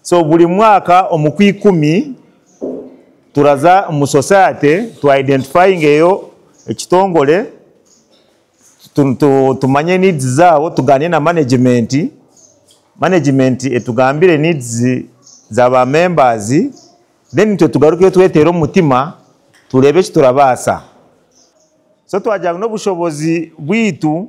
So buri mwaka omu kwa ikumi turaza omu society tu identifyingeyo ekitongore tumanye needs zaabo tugaane na management, management etugambire needs za ba members then itwe tugarukeyo tweteere omu mutima tureebe eki turabaasa so twagira ngu n'obushobozi bwaitu.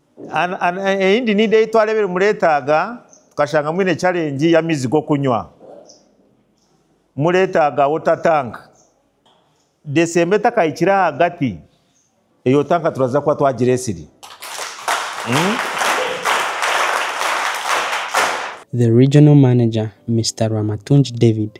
Eyindi niidi ei twareebire mureetaaga, tukashanga mwine challenge y'amaizi g'okunywa. Mureetaaga water tank. December etakahikire ahagati, eyo tanka turaza kuba twagira esiri. The Regional Manager, Mister Rwamatungi David,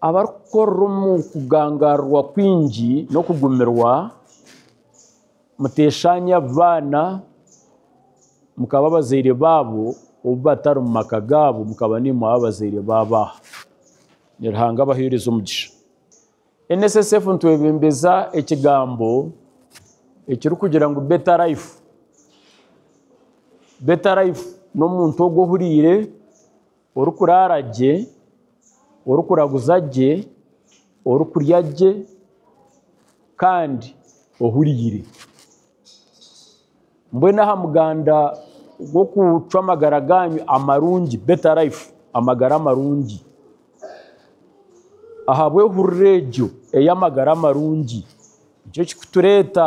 Abarikukorera omu kugangarirwa kwingi n'okugumirwa, muteeshaanya baana, mukaba abazaire baabo, obu batari mu maka gaabo, mukaba naimwe abazaire baabo aha. Ni Ruhanga abaheereza omugisha. NSSF nitwebembeza ekigambo ekirikugira ngu Better Life. Better Life n'omuntu ogwo ohuriire. Orikuraara gye, orikuraguza gye, orikurya gye kandi ohuriire. Mbwenu aha muganda gw'okucwa amagara gaanyu amarungi, better life, amagara amarungi, ahabw'ehurira egyo ey'amagara amarungi, nikyo kirikutureeta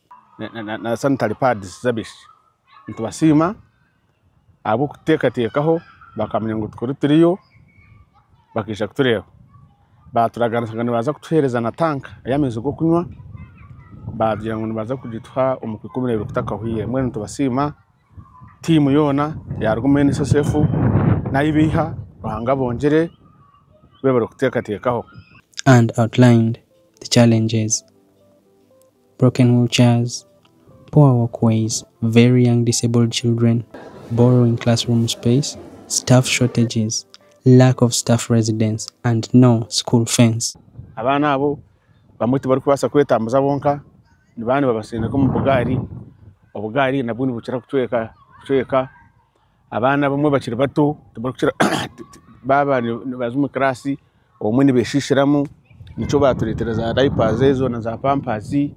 na sanitary pads z'abaishiki. Nitubasiima ahabw'okuteekateekaho bakamanya ngu tukaba turiyo bakaija kutureeba. Baaturaganisa ngu nibaza kutuheereza na tank ey'amaizi g'okunywa baagira ngu nibaza kugituha omu ka ikumi n'ebiri kutakahwaire. Mbwenu nitubasiima tiimu yoona yaaruga omu NSSF n'ahu baiha Ruhanga abongyere bebe barikuteekateekaho. broken wheelchairs, poor walkways, very young disabled children, borrowing classroom space, staff shortages, lack of staff residence and no school fence. Abaana abo bamwe tibarikubaasa kwetambuza bonka, nibaaba nibabatsindika omu bugaari, obugaari nabwo nibukira kucweka cweka. Abaana abamwe bakiri bato tibarikukira baaba nibaza omu kiraasi obumwe nibeshishiramu nikyo baturetera za dayipaazi ezo na za pampaasi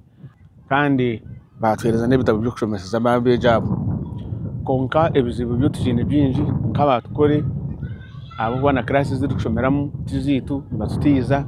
kandi batuhereza n'ebitabo by'okushomeseza abaana abeegi abo. Kwonka ebizibu byo tukine bingi nk'aba tukore ahabw'okuba na kiraasi ezi turikushomeramu tizaitu nibatutiza.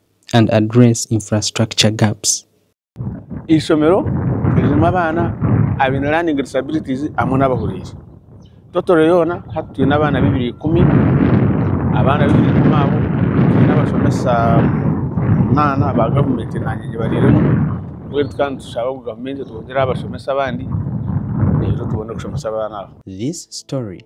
and address infrastructure gaps. Eishomero ririmu abaana abaine learning disabilities hamwe n'abahuriire. Totoro yoona hati twine abaana baibiri ikumi, abaana baibiri ikumi abo twine abashomesa munaana ba gavumenti naanye nyowe bariiremu mbwenu tukaba nitushaba ngu gavumenti etwongyereho abashomesa abandi reero tubone kushomesa abaana abo. This story